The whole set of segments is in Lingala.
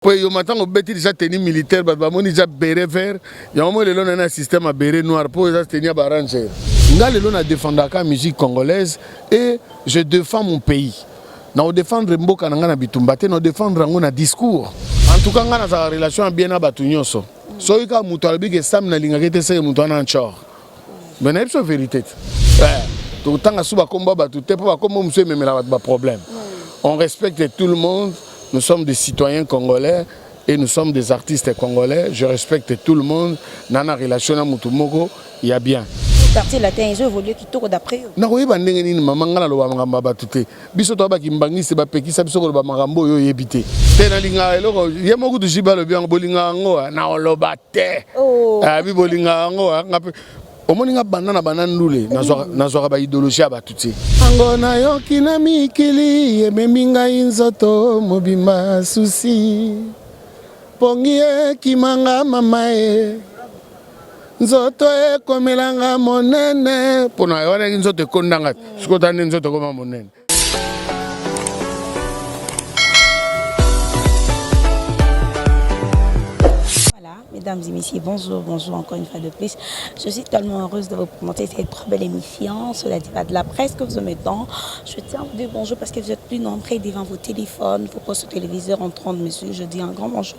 po yo matango beti déjà tenue militaire bato bamoni déjà beret vert yango moi lelo na na système ya beret noir po eza tenue ya ba ranger nga lelo na défendaka musique congolaise et je défends mon pays na odefendre mboka na nga na bitumba te na odefendre yango na discours en tout cas nga nazala relation ya bien na bato nyonso soki kaka moto alobi ke sam nalingaka ete seke moto wana ncor mais nayebi so verité te eh, tokotanga su bakombo ya bato te mpo bakombo mosusu ememela bato baproblème on respecte tout le monde nous sommes des citoyens congolais et nous sommes des artistes congolais je respecte tout le monde na na relation na motu moko ya bien quartier latin ezo évoluer kitoko d'après yo nakoyeba ndenge nini mama ngai naloba makambo ya bato te Biso toza ba kimbanguiste ba pekisa biso koloba makambo oyo oyebi te. Te na linga eloko ye moko tu jiba lobi yango bolinga yango ah, na oloba te. Oh. Ah bi bolinga yango ah, nga pe omoni nga banda na banda ndule nazwaka ba ideologie ya bato te yango nayoki na mikili ememi ngai nzoto mobimba susi pongi ekimanga mama e nzoto ekomelanga monene mpo na wana nzoto ekondanga te soki otala nde nzoto ekoma monene Mesdames et messieurs, bonjour, bonjour encore une fois de plus. Je suis tellement heureuse de vous présenter cette très belle émission sur la diva de la presse que vous en mettons. Je tiens à vous dire bonjour parce que vous êtes plus nombreux devant vos téléphones, vos postes téléviseurs en train de me suivre. Je dis un grand bonjour.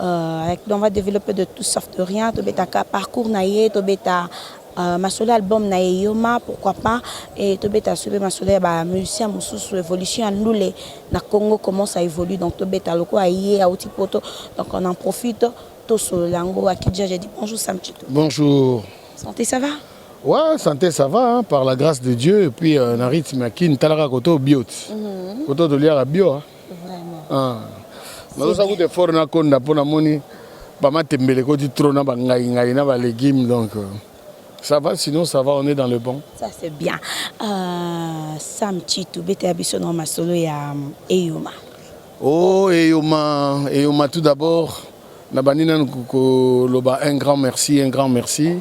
Euh, on va développer de tout sauf de rien. Tobetaka parcours na ye, tobeta euh, masolo album na ye Yoma, pourquoi pas. Et tobeta soube masolo ya ba musiciens mususu évolution ya ndule na Congo comment ça évolue. Donc tobeta loko a ye a outi poto. Donc on en profite. Toso lango à Kidja, j'ai dit bonjour Samchito. Bonjour. Santé, ça va? Ouais, santé, ça va, hein, par la grâce de Dieu. Et puis, euh, na rythme à Kin, Talara Koto, Biot. Mm -hmm. Koto de Liara Bio. Hein. Vraiment. Ah. Nazosa kutu effort na konda mpo namoni bamatembele ekoti trop na bangai ngai na balegume donc euh, ça va sinon ça va on est dans le bon ça c'est bien euh, sam chitu betela biso na masolo ya um, eyoma oh eyoma eyoma tout d'abord nabandi nanu koloba un grand merci un grand merci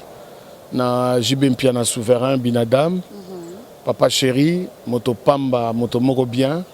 na jb mpiana souverain binadam mm -hmm. papa chéri moto pamba moto moko bien mm -hmm.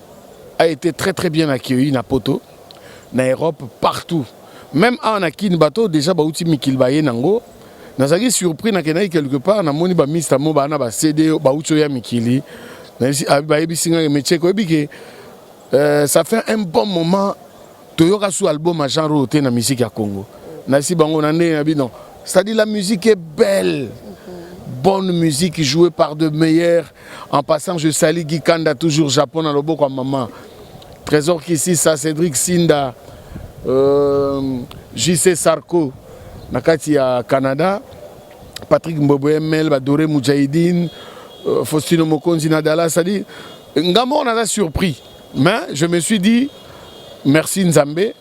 a été très très bien accueilli na poto na Europe partout même awa na Kin bato déjà bauti mikili baye nango nazalaki surpris nakendaki quelque part namoni ba mista mo bana ba CD bauti oya mikili bayebisi ngai mecheko oyebi ke euh, ça fait un bon moment Toyoka su album ya genre oyo te na musique ya Congo. Nasi bango na ndenge na bino. C'est-à-dire la musique est belle. Bonne musique jouée par de meilleurs. En passant, je salue Guy Kanda, toujours Japon, à Loboko, à maman. Trésor Kissi, ça, Cédric Sinda, euh, JC Sarko, Nakati à Canada, Patrick Mbobo ML, Badore Moudjahidine, euh, Faustino Mokonzi Nadala, c'est-à-dire, Ngamon, on a surpris. Mais je me suis dit merci Nzambe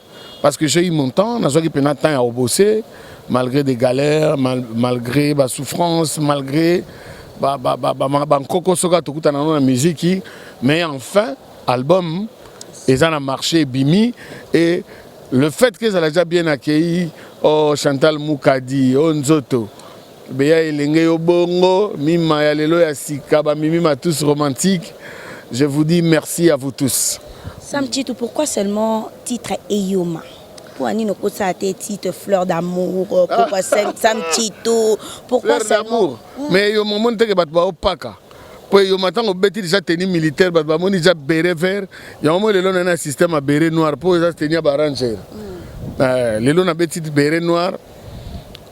parce que j'ai eu mon temps, nazwaki pena temps ya obose malgré des galères, mal, malgré ba souffrances, malgré ba ba ba ba, ba, ba nkoko soka tokuta na na musique, mais enfin album eza na marché bimi et le fait que ezala déjà bien accueilli oh Chantal Mukadi oh Nzoto Beya elenge yo bongo mima ya lelo ya sika ba mimi ma tous romantique je vous dis merci à vous tous Sam Chitu pourquoi seulement titre Eyoma pourquoi nino kosa te titre fleur d'amour pourquoi ah. Sam Chitu pourquoi fleur d'amour hmm. mais yo mon monde que bat ba opaka po yo matango beti déjà tenue militaire bat ba moni déjà beret vert ya mo lelo na un système à beret noir po eza tenue ba ranger hmm. euh, lelo na beti beret noir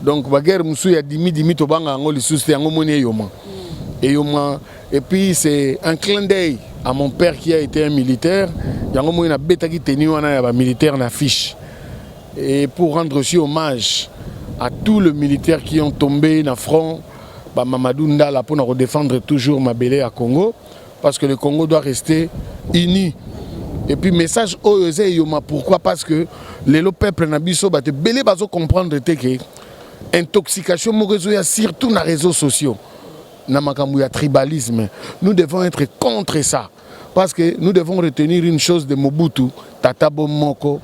Donc ba guerre musu ya dimi dimi tobanga yango lisusu te yango moni eyoma. Hmm. Eyoma et puis c'est un clin d'œil à mon père qui a été un militaire yango moni na betaki tenue wana ya ba militaire na fiche. Et pour rendre aussi hommage à tous les militaires qui ont tombé na front ba Mamadou Ndala pour défendre toujours Mabele à Congo. parce que le Congo doit rester uni et puis message oyo eza eyoma pourquoi parce que lelo peuple na biso bato ebele bazo comprendre te ke intoxication moko ezoya surtout na réseaux sociaux na makambo ya tribalisme nous devons être contre ça parce que nous devons retenir une chose de mobutu tata bo moko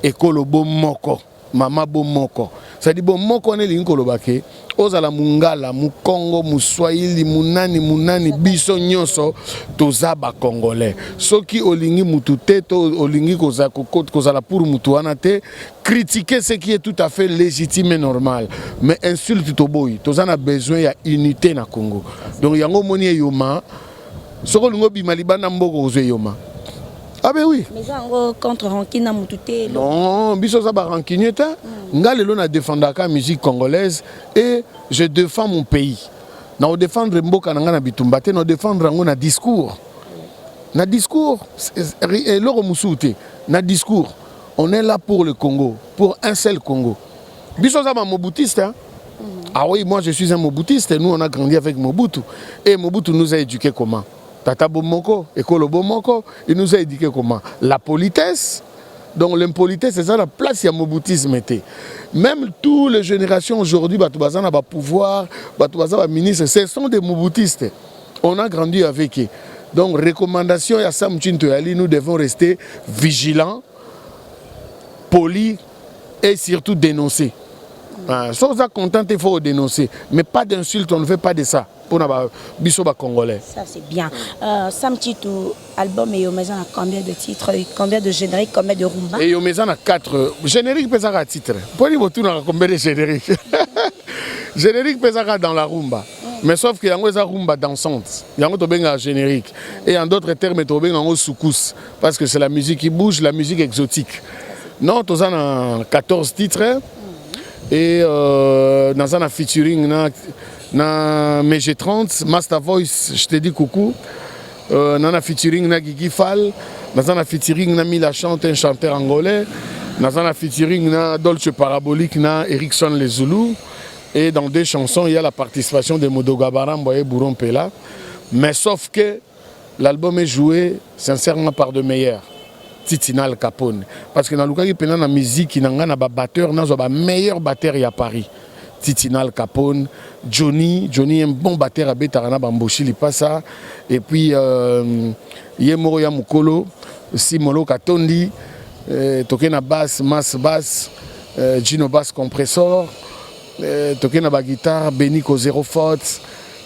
ekolo bo moko Mama bo moko sadi bo moko wana elingi koloba ke ozala mungala mukongo muswahili munani munani biso nyoso toza ba congolais soki olingi mutu te to olingi kozala pour mutu wana te critiquer ce qui est tout à fait legitime normal mais insulte toboyi toza na besoin ya unite na congo donc yango omoni eyoma Soki olingi obima libanda mboko ozwa eyoma. Ah ben oui. Mais yango contre rancune na mutu te. Non, biso za ba rancunier te. Mm. Nga lelo na défendaka musique congolaise et je défends mon pays. Na défendre mboka na nga na bitumba te, na défendre yango na discours. Na discours eloko mususu te. Na discours, on est là pour le Congo, pour un seul Congo. biso za ba mobutiste hein? Ah oui, moi je suis un mobutiste, nous on a grandi avec Mobutu. Et Mobutu nous a éduqués comment Tata Bomoko, Ekolo Bomoko, il nous a éduqués comment La politesse, donc l'impolitesse c'est ça la place ya mobutisme était même toutes les générations aujourd'hui bato baza na ba pouvoir bato baza ba ministre ce sont des mobutistes on a grandi avec eux donc recommandation ya Sam Chinto Yali nous devons rester vigilants polis et surtout dénoncer ah, so oza content te faut dénoncer mais pas d'insulte on ne fait pas de ça mpona ba, biso bacongolais ça c'est bien euh, sam titu album eyoma eza na combien de titres combien de générique combien de rumba eyoma eza na 4 générique mpe ezaka titre mpo ni botunaka combien de générique générique mpe ezaka dans la rumba mm. mais sauf que yango eza rumba dansante yango tobengaka générique et en d'autres termes tobengaka yango soukous Parce que c'est la musique qui bouge, la musique exotique. Non, toza na 14 titres et euh, naza na featuring na na Mege 30, Master Voice, je te dis coucou. Euh, naza na featuring na Gigi Fall, naza na featuring na Mila Chante, un chanteur angolais. Naza na featuring na Dolce Parabolique na Erickson Les Zoulous. Et dans deux chansons, il y a la participation de Modoga Barambo et Bourron Pela. Mais sauf que L'album est joue sincèrement par de meilleurs Titina Al Capone parce que nalukaki mpena na miziki na ngai na babatteur nazwa ba meilleur batteur ya Paris Titina Al Capone, Johnny, Johnny un bon batteur abetaka na bamboshi lipasa et puis euh, ye moko ya mokolo Simolo Katondi euh, toke na basse Mas Bass euh, Gino Bass Compressor euh, toke na baguitare Beniko Zero Faute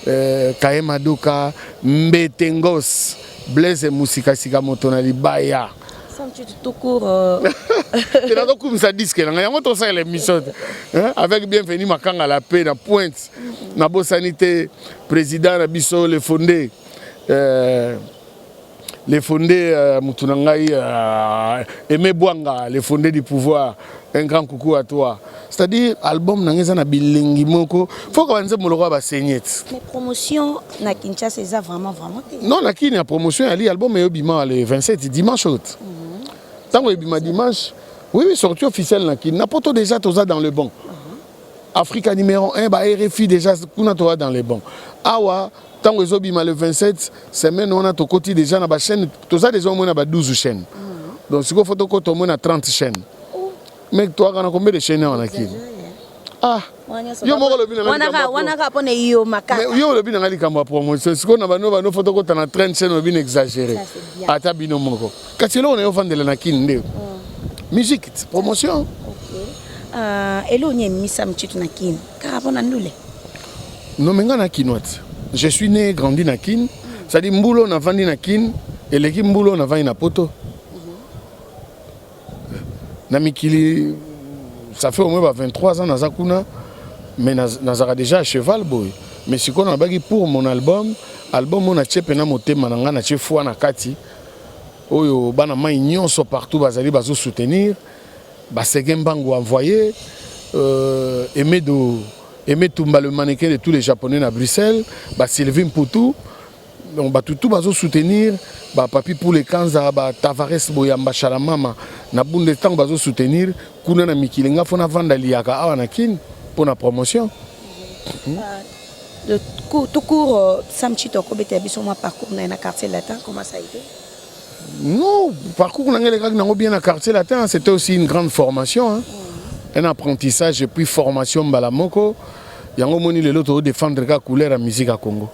Euh, kaye maduka mbete ngos blaise musikasika moto na libaya nazokumisa euh. diske na ngai yango tosalela émission te avec bienvenu makanga la pe na pointe nabosani te président na biso le fonde euh, Le fondé euh, mutu na ngai euh, Aimé Bwanga, le fondé du pouvoir. Un grand coucou à toi. C'est-à-dire album na ngai eza na bilengi moko. Faut que banze moloko ba saignette. Mais promotion na Kinshasa eza vraiment vraiment. Non, na Kini ya promotion ya li album eyo bima le 27 dimanche out. Mm -hmm. Tango ebima dimanche, oui oui sortie officielle na Kini. Na poto déjà toza dans le bon. Mm -hmm. Africa numero 1 ba RFI deja kuna toza dans les bons. Awa tango ezobima le 27 semaine wana tokoti deja na ba chaîne toza deja omona ba 12 chaîne. Mm. Donc sikoyo faut tokota omona 30 chaîne. Oh. Mais toi kana combien de chaîne wana kili? Ah. yo moko olobi yo olobi na ngai likambo ya promotion sikoyo na bano bano fo tokota na train chaine olobi na exagere ata bino moko Kasi eloko na yo vandela na kin nde mm. musique promotion. Okay. Uh, eloko ni emisa mchitu na kin kaka pona ndule. Non mais nga na kinoite. Je suis né grandi na kin. Mm. C'est-à-dire mbulo na vandi na kin eleki mbulo na vandi na poto. Mm -hmm. Na mikili ça fait au moins 23 ans naza kuna mais nazaka déjà à cheval boy. Mais sikoyo nabaki pour mon album album oyo natie mpena motema na ngai natie foi na kati oyo bana mai nyonso partout bazali bazo soutenir basege mbangu envoyé euh, emedo emetumba le mannequin de tous les japonais na bruxelles basylvie mputu donc bato tout bazo soutenir bapapi pule kanza batavares boyamba shalamama na bunde ntango bazo soutenir kuna na mikili nga fo navanda liyaka awa na kine mpo na promotion mm -hmm. Tout court, euh, Sam Chito akobeta biso mwa parcours na ye na quartier latin, comment ça a été Non, parcours na ngai lekaki nango bien na quartier latin, c'était aussi une grande formation, hein. Mm. un apprentissage et puis formation mbala moko. Yango moni lelo to défendre ka couleur ya musique ya Congo.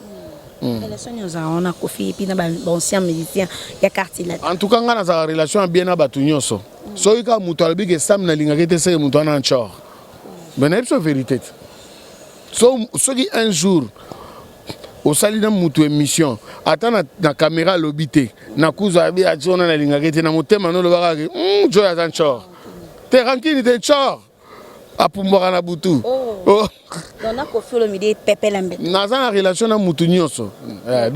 Mm. Mm. relation nyonso yango na kofi epuis na baancien musicien ya quartier latin en tout cas ngai nazala relation ya bien na bato nyonso mm. soki kaka moto alobi ke sam nalingaki te seke moto wana ncor me nayebi so verité te so soki un jour osali na mutu émission ata na, na caméra alobi te na kuzu abi ajo na nalingaki te na motema no olobaka ke mm, joy aza nchor te rankini te nchor apumbwaka na butu oh. Oh. naza na relation na mutu nyonso eh,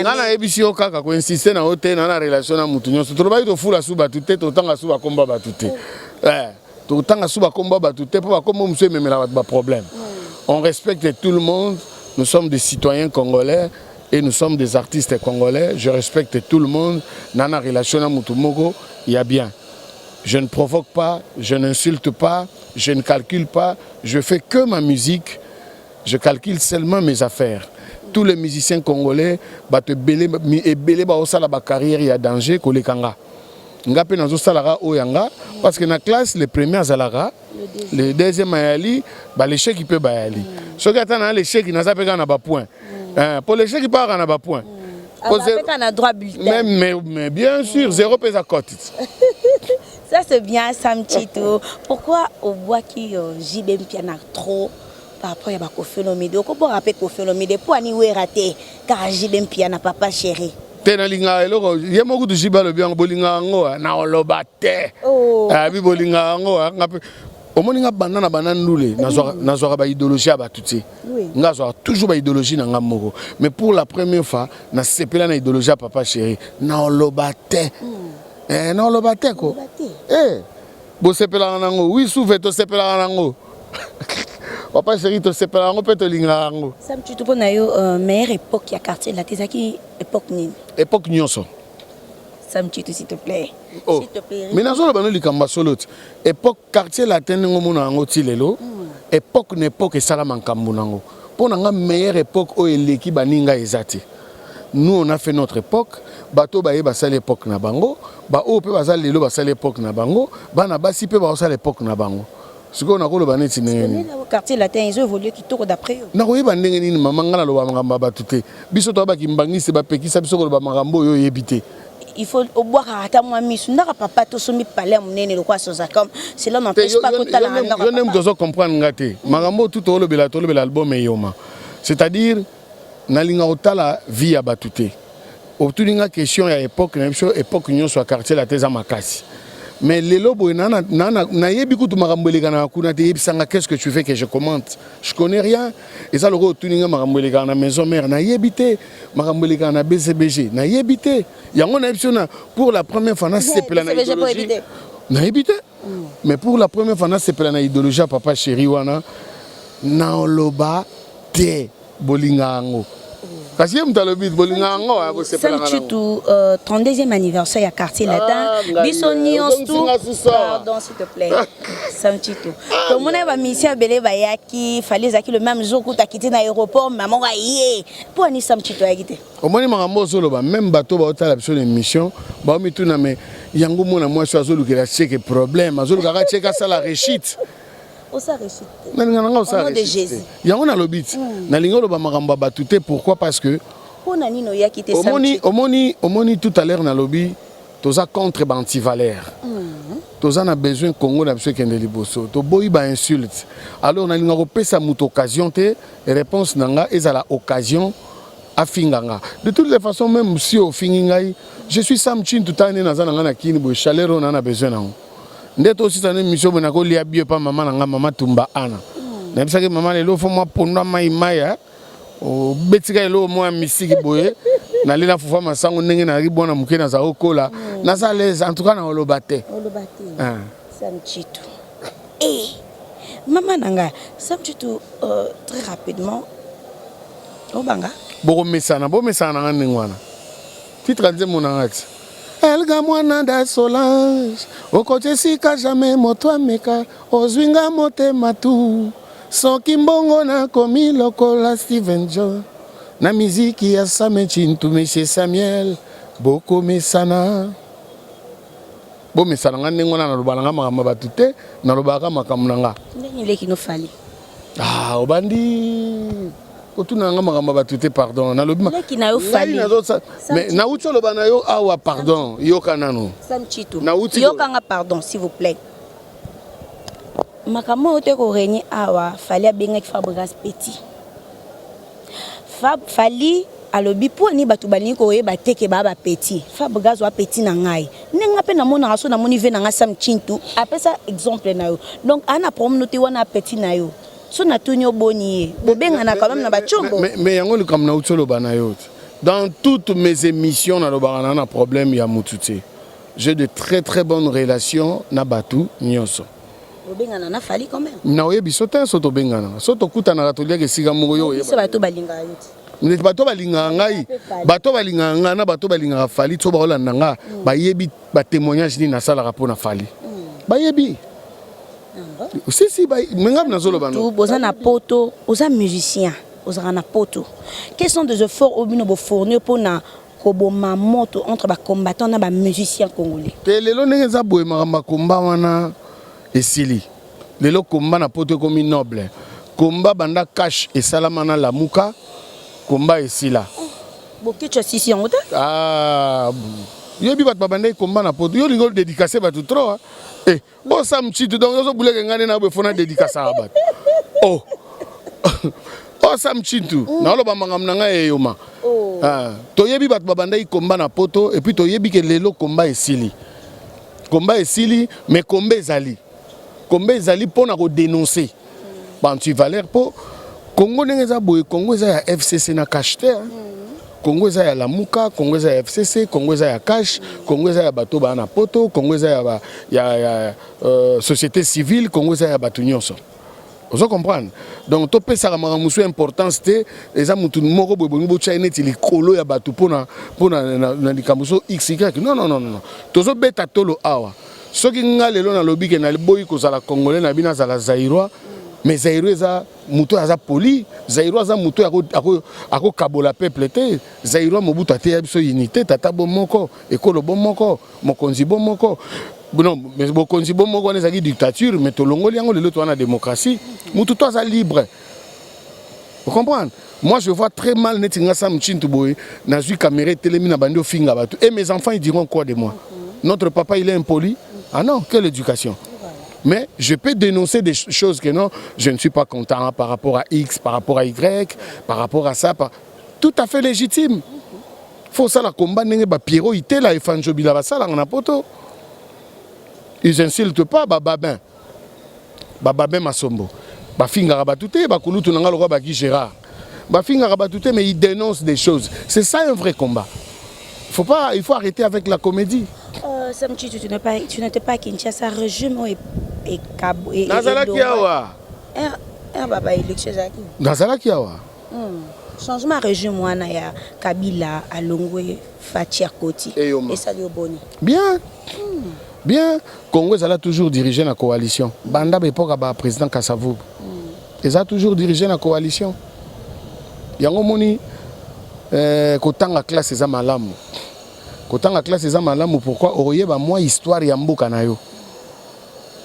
nga nayebisi yo kaka koinsiste na yo te na na relation na mutu nyonso tolobaki tofula su bato te totanga su bakomba bato te oh. eh. tokotanga su bakombo ya bato te mpo bakombo mosusu ememela bato baproblème hmm. on respecte tout le monde nous sommes des citoyens congolais et nous sommes des artistes congolais je respecte tout le monde na na relation na motu moko ya bien je ne provoque pas je n'insulte pas je ne calcule pas je fais que ma musique je calcule seulement mes affaires tous les musiciens congolais bato ebele ebele baosala bacarrière ya danger koleka nga nga mpe nazosalaka oyo ya nga parce que na classe le premier azalaka le deuxième ayali balecheki mpe bayali mm. soki ata na lecheki naza mpe kaka na bapoint mm. eh, mpo lecheki mpe kaka na bapoint mm. mais, mais bien sûr zéro mpe eza cote Ça c'est bien Sam Chito. Pourquoi au bois qui euh, JB Mpiana trop Par rapport ya ba koffi olomide okobora pe koffi olomide po ani wera te kaka JB mpiana papa cheri. te nalingaka eloko ye moko kutu jibe alobi yango bolingaka yango eh, naoloba te oh. eh, abi bolingaka yango eh, nga mpe omoni nga banda na banda ndule nazwaka baidéologie ya bato te nga azwaka toujours baidéologie na nga moko mais pour la première fois nasepela na idéologie ya papa chéri naoloba te hmm. naoloba te ko bosepelaka nango wi suve tosepelaka nango papa chéri tosepela yango mpe tolingaka yango samtutu mpo na yo euh, meilleure époque ya quartier late ezalaki époque nini époque nyonso samtutu s'il te plaît oh. mais nazoloba no likambo ya solo ti époque quartier latin ndenge omona yango ti lelo hmm. époque na époque esalama nkambo na yango mpo na nga meilleure époque oyo eleki baninga eza te nous on a fait notre époque bato baye basali époque na bango baoyo mpe baza lelo basali époque na bango bana basi mpe baosala époque na bango sikoyo nakoloba neti ndenge nini quartier latin ezo évoluer kitoko d'après yo nakoyeba ndenge nini mama ngai naloba makambo ya bato te biso toya bakimbangiste bapekisa biso koloba makambo oyo oyebi te il faut obwaka ata mwa misu ndaka papa tosombi palais ya monene lokola sozacom cela n'empêche pas kotala na ndaka yo nde moto ozo comprendre nga te makambo oyo tout olobela tolobela album eyoma c'est-à-dire Nalinga kotala vie ya batu te. Otuni nga question ya epoque na biso, epoque nionso ya quartier latin eza makasi. Mais lelo boye nayebi kutu makambo elekanaka kuna te, yebisa nga qu'est-ce que tu veux que je commente? Je connais rien. Eza lokola otuni nga makambo elekaka na maison mère, nayebi te. Makambo elekaka na BCBG, nayebi te. Yango nayebisi yo na pour la première fois nasepela na ideologie. Nayebi te. Mais pour la première fois nasepela na ideologie ya papa cheri wana. Naloba. te bolinga yango kasi ye moto alobi bolinga yango ya kosepelanga chitu uh, 32e anniversaire ya quartier ah, latin ah, biso nyonso pardon s'il te plaît sam chitu ah, tomonaki bamisien ebele bayaki fali ezalaki le même jour kuta akiti na aéroport mama ngo aye mpo ani sam chitu ayaki te omoni makambo ozoloba meme bato baotala biso na émission baomituna me yango mwana mwasi azolukela cheke problème azolukaka cheke asala rechite nalinga nanga osala yango nalobi ti hmm. nalingi oloba makambo ya bato te pourquoi parce que omoni, omoni, omoni tout à l'heure nalobi toza contre baantivaleur hmm. toza na besoin congo na biso ekende liboso toboyi bainsulte alors nalinga kopesa moto occasion te réponse na nga ezala occasion afinga nga de toutes les façons même si ofingi ngai je suis sam chin tutane naza na ngai na kini boye chaleur oyo naa na besoin nango nde tosisa na emission boye nakolia bio epa mama na ngai mama tumba ana hmm. nayebisaki mama lelo fo mwa pondu amai mai eh. obetika eloko moko ya misiki boye nalela fufa masango ndenge nayaki bwana moke naza okola hmm. naza lese en tout cas na oloba te ah. samchitu e eh, mama na ngai samchitu euh, très rapidement obanga bokomesana bomesana na ngai ndenge wana titre nzembo na ngai ti Elga mwana da Solange okoti esika jamais moto ameka ozwi nga motema tu soki mbongo nakomi lokola Steven John na miziki ya Same Tshintu Monsieur Samuel bokomesana bomesana nga ndenge wana nalobaka na nga makambo ya bato te nalobaka makambo na nga ndenge leki no fali Ah, obandi otuna nga makambo ya bato te pardon nalobi nauti oloba na yo awa pardon yoka nano yokanga pardon s'il vous plaît makambo oyo te koregne awa fali abengaki fabrigas petit Fab, Fally alobi pona nini batu balingi koyeba te ke ba ba petit. Fab gaz oa petit na ngai ndenge nga pe na monaka soki na moni vie na nga sam tshintu apesa exemple na yo donc aa na problème no te wana petit na yo soki na tuni yo boni ye bobengana quand meme na ba tshombo. Mais mais yango likambo na uti oloba na yo te dans toutes mes emissions na lobaka na na problème ya mutu te j'ai de très très bonne relation na batu nioso. obengana na fali quand même na oyebi so te so tobenganaka so tokutanaka toliaka esika moko yo oyeba bato balingaka yo te ndeti bato balingaka ngai bato balingaka ngai na bato balingaka fali so baolanda ngai mm. bayebi batémoignage nini nasalaka mpo na fali mm. bayebi ah si si mengai nazoloba boza na poto oza musicien ozalaka na poto quels sont des efforts oyo bino bofournir mpo na koboma moto entre ba combattants na ba musiciens congolais. Te lelo ndenge eza boye makambo ya combat wana esili. Lelo combat na poto ekomi noble. Combat banda cash esalama na Lamuka, combat esila. Boketshu asisi yango te? Ah, yoyebi bato babandaki combat na poto. Yo olingi odedicase bato trop. Eh, Oh Sam Chitu donc ozo bouleke nga nde na bo fona dédicace à bat. Oh. Oh Sam Chitu, mm. na loba mangam na nga eyoma. Oh. Ah, toyebi bato babandaki komba na poto et puis toyebi ke lelo komba esili. Komba esili mais komba ezali. Komba ezali pona ko dénoncer. ba antivaleur mpo Congo ndenge eza boye Congo eza ya FCC na cash te hein. Congo eza ya Lamuka, Congo eza ya FCC, Congo eza ya Cash, Congo eza ya bato bana poto, Congo eza ya, ba, ya, ya euh, société civile, Congo eza ya bato nyonso. ozo comprendre donc topesaka makambo mosusu importance te eza motu moko boye bolingi botya ye neti likolo ya bato mpo na likambo so xy non non non non tozobeta tolo awa Soki nga lelo na lobi ke na boyi ko zala congolais na bino azala zaïrois mais zaïrois eza muto aza poli zaïrois aza muto ako ako ako kabola peuple te zaïrois mobutu ateya biso unité tata bo moko ekolo bo moko mokonzi bo moko non mais bokonzi bo moko wana ezaki dictature mais tolongoli yango lelo towana démocratie mutu to aza libre vous comprenez Moi je vois très mal neti nga Sam Chintu boye nazui caméra etelemi na bandi ofinga bato et mes enfants ils diront quoi de moi notre papa il est impoli ah non quelle éducation mais je peux dénoncer des choses que non je ne suis pas content hein, par rapport à X par rapport à Y par rapport à ça par... tout à fait légitime faut ça la combat ndenge ba Pierrot itela et Fanjobila basalanga na poto ils insultent pas ba babin ba babin masombo bafingaka bato te bakulutu na ngai lokola baki gérard bafingaka bato te mais il dénonce des choses c'est ça un vrai combat faut pas il faut arrêter avec la comédie euh, Sam Chitu, tu n'es pas tu n'étais pas à Kinshasa régime et et Cabo et nazalaki awa er er baba élection ezalaki nazalaki awa hmm. changement ya régime wana ya kabila alongwe fatia koti esali yo boni bien hmm. Bien, Congo ezala toujours dirigé na coalition. Banda ba epoka ba président Kasavubu. Mm. Eza toujours dirigé na coalition. Yango moni eh, kotanga classe eza malamu. Kotanga classe eza malamu pourquoi oyeba mwa histoire ya mboka na yo.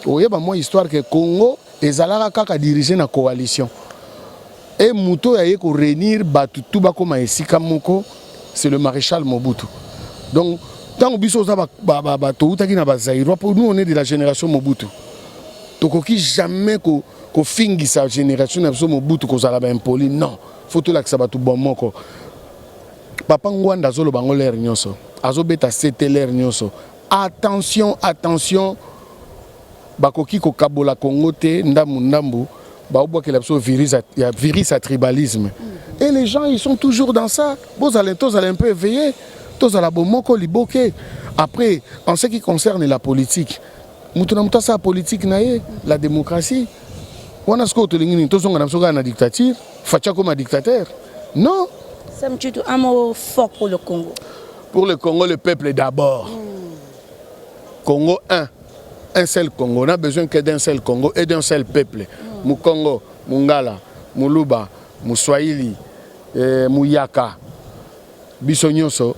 Oyeba mwa histoire que Congo ezalaka kaka dirigé na coalition. Et moto oyo aye ko réunir batu tout bakoma esika moko c'est le maréchal Mobutu. Donc ntango biso oza ba, ba, ba, ba, toutaki na bazairois mpo nous on est de la génération Mobutu tokoki jamais ko kofingisa génération na biso Mobutu kozala ba impoli non faut tolakisa bato bon moko papa Ngwanda azoloba yango lere nyonso azobeta sete lere nyonso attention attention Bakoki kokabola Congo te ndambu ndambu baobwakela biso virus ya virus ya tribalisme et les gens ils sont toujours dans ça bozala tozala un peu éveillé tozala bomoko liboke après en ce qui concerne la politique moto na moto asala politique na ye la démocratie wana sikoyo tolingi nini tozonga na biso kaka na dictature faci akoma dictateur non Sam Tshitu, un mot fort pour le Congo. pour le congo le peuple d'abord congo 1 Un seul Congo, on a besoin que d'un seul Congo et d'un seul peuple. Mukongo, Mungala, Muluba, Muswahili, eh, Muyaka, biso nyonso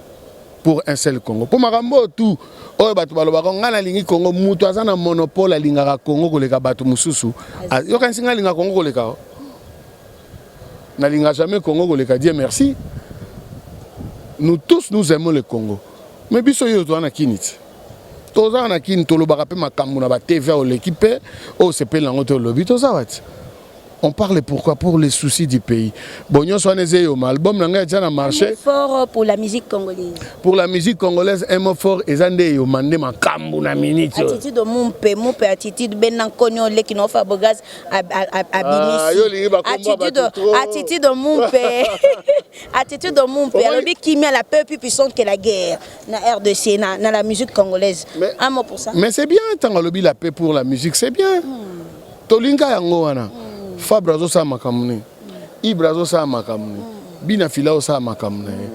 pour un seul Congo. Pour makambo tout oyo bato balobaka ngai nalingi Congo, moto aza na monopole alingaka Congo koleka bato mosusu. Ah, yokanisi ngai alinga Congo koleka o? Nalinga jamais Congo koleka Dieu merci. Nous tous nous aimons le Congo. Mais biso yo toza na kiniti. toza na kin tolobaka pe makambu na ba TV oleki pe o sepeli nango to lobi toza wati on parle pourquoi pour les soucis du pays bon nyonso wana eza eyoma album na ngai atia na marché fort pour la musique congolaise pour la musique congolaise un mot fort eza nde eyoma nde makambu na minute attitude mumpe mumpe attitude bena nkoni oleki no fabrigaz abimisi ah, attitude attitude mumpe attitude mumpe alobi kimia la peuple puissante que la guerre na rdc na, na la musique congolaise mais, un mot pour ça mais c'est bien ntango alobi la paix pour la musique c'est bien mm. tolinga yango wana mm. fabre azosala makambo nini mm. ibre azosala makambo nini mm. bina fila osala makambo na ye mm.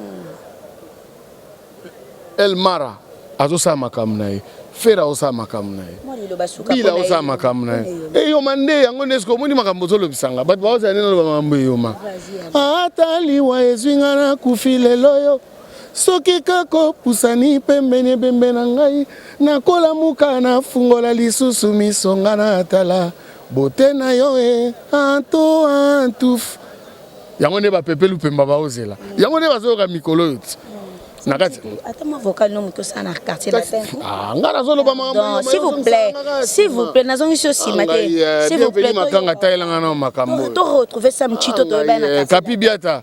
elmara azosala makambo na ye fere azosala makambo na ye bila azosala makambo na ye eyoma nde yango nde soki omoni makambo ozolobisanga bato baozala nde naloba makambo eyoma ataliwa ezwi nga nakufi lelo yo Soki kaka opusani pembeni ebembe na ngai, nakolamuka nafungola lisusu miso nga natala beaute na yo e anto antuf. Yango nde ba pepe lupemba baozela, yango nde bazoyoka mikolo oyo ti na kati ata mwa vocal no moto osala na quartier latin ah nga nazoloba makambo s'il vous plaît s'il vous plaît nazongisi yo nsima te euh, s'il vous plaît makanga tayelanga na makambo to retrouver sam chito toyeba na kapi biata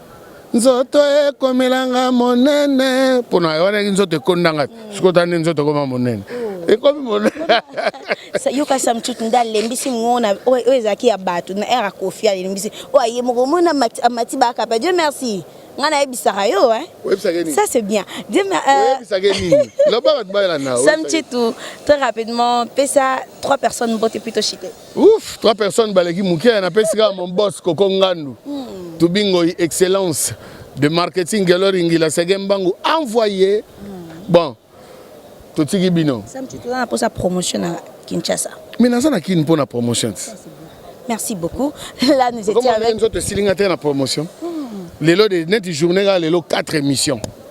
nzoto ekomelanga monene mpona wana nzoto ekondanga sikoyo tani nzoto ekoma monene ekomi yoka samtut nde alembisi mona oyo ezalaki ya bato na ere akofi alembisi oyo aye moko omona amati bakapa dieu merci nga nayebisaka yo ça c'est bien samchitu très rapidement pesa trois personnes mbote plutôt chite Ouf, trois personnes baleki muke na pesi kaka mon boss Koko Ngandu. Mm. Tubingo excellence de marketing Gelori Ngila Sege Mbangu envoyé. Mm. Bon. Totiki bino. Sam tu as pour sa promotion à Kinshasa. Mais naza na kin pour na promotion. Merci beaucoup. Là nous étions avec Comment nous autres silinga te na promotion. Mm. Lelo de net journée là lelo 4 émissions.